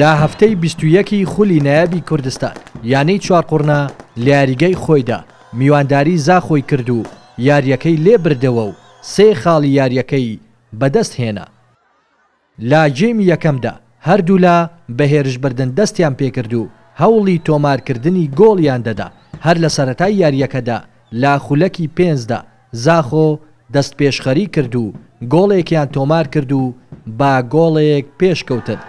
لە هەفتەی بیست و یەک ی خولی نایابی کوردستان، یانەی چوارقوڕنە لە یاریگای خۆیدا میوانداری زاخۆی کرد و یارییەکەی لێبردەوە و سێ خاڵی یارییەکەی بەدەستهێنا. لە گێمی یەکەمدا هەردوولا بە هێرشبردن دەستیان پێکرد و هەوڵی تۆمارکردنی گۆڵیان دەدا، هەر لە سەرەتای یارییەکەدا لە خولەکی پێنجدا زاخۆ دەستپێشخەری کرد و گۆڵێکیان تۆمارکرد و بە گۆڵێک پێشکەوتن.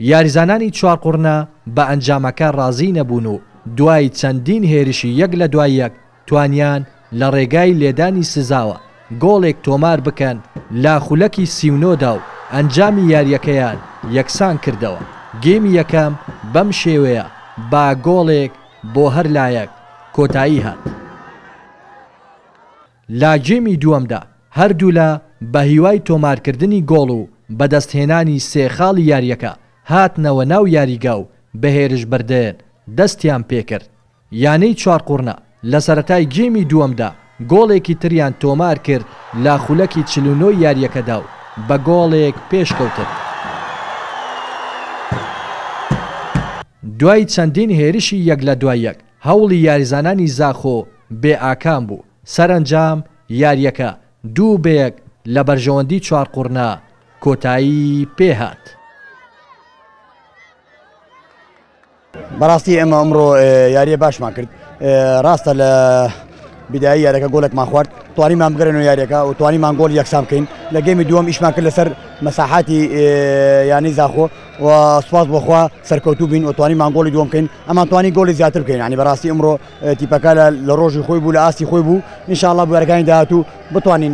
یاریزانانی چوارقوڕنە بە ئەنجامەکە رازی نەبوون و دوای چەندین هێرشی یەک لە دوای یەک توانیان لە رێگای لێدانی سزاوە گۆڵێک تۆمار بکەن لە خولەکی سی و نۆ دا و ئەنجامی یارییەکەیان یەکسان کردەوە گێمی یەکەم بەم شێوەیە بە گۆڵێک بۆ هەر لایەک کۆتایی هات. لە گێمی دووەمدا هەردوولا بە هیوای تۆمارکردنی گۆڵ و بەدەستهێنانی سێ خاڵی یارییەکە هاتنەوە ناو یاریگا و بە هێرشبردن دەستیان پێکرد. یانەی چوارقوڕنە لە سەرەتای گێمی دووەمدا گۆڵێکی تریان تۆمارکرد لە خولەکی چل و نۆی یارییەکەدا و بە گۆڵێک پێشکەوتن. دوای چەندین هێرشی یەک لە دوای یەک، هەوڵی یاریزانانی زاخۆ بێ ئاکام بوو، سەرەنجام یارییەکە دوو بە یەک لە بەرژەوەندی چوارقوڕنە کۆتایی پێهات. بەڕاستی ئێمە ئەمڕۆ یارییە باشمان کرد، ڕاستە لە بیدایی یاریەکە گۆلێکمان خوارد توانیمان بگەرێنەوە یاریەکە و توانیمان گۆل یەکسان بکەین لە گەمی دووەم ئیشمان کرد لەسەر مەساحاتی یانی زاخۆ و سوپاس بۆخوا سەرکەوتوو بین و توانیمان گۆلی دووەم بکەین ئەمان توانی گۆلی زیاتر بکەین ینی بەڕاستی ئەمڕۆ تیپەکە لە ڕۆژی خۆی بوو لە ئاستی خۆی بوو نیشاءڵە بوارەکانی داهاتوو بتوانین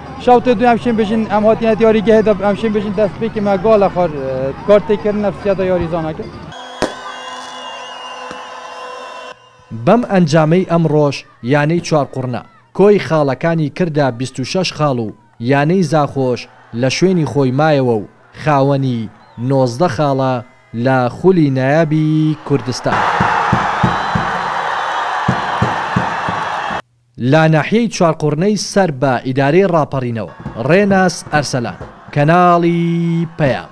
شەوتێ دوێ ئەمشێن بژین ئەم هاتیە دیاریگەهێ دە ئەمشێن بژین دەست پێکی مە گاڵە خار کارتێکردن نەفسیاتە یاریزانەکە. بەم ئەنجامەی ئەمڕۆش یانەی چوارقوڕنە، کۆی خاڵەکانی کردە بیست و شەش خاڵ و یانەی زاخۆش لە شوێنی خۆی مایەوە و خاوەنی نۆزدە خاڵە لە خولی نایابی کوردستان. لە ناحیەی چوارقوڕنەی سەر بە ئیدارەی ڕاپەڕینەوە، ڕێناس ئەرسەلان، کەناڵی پەیام.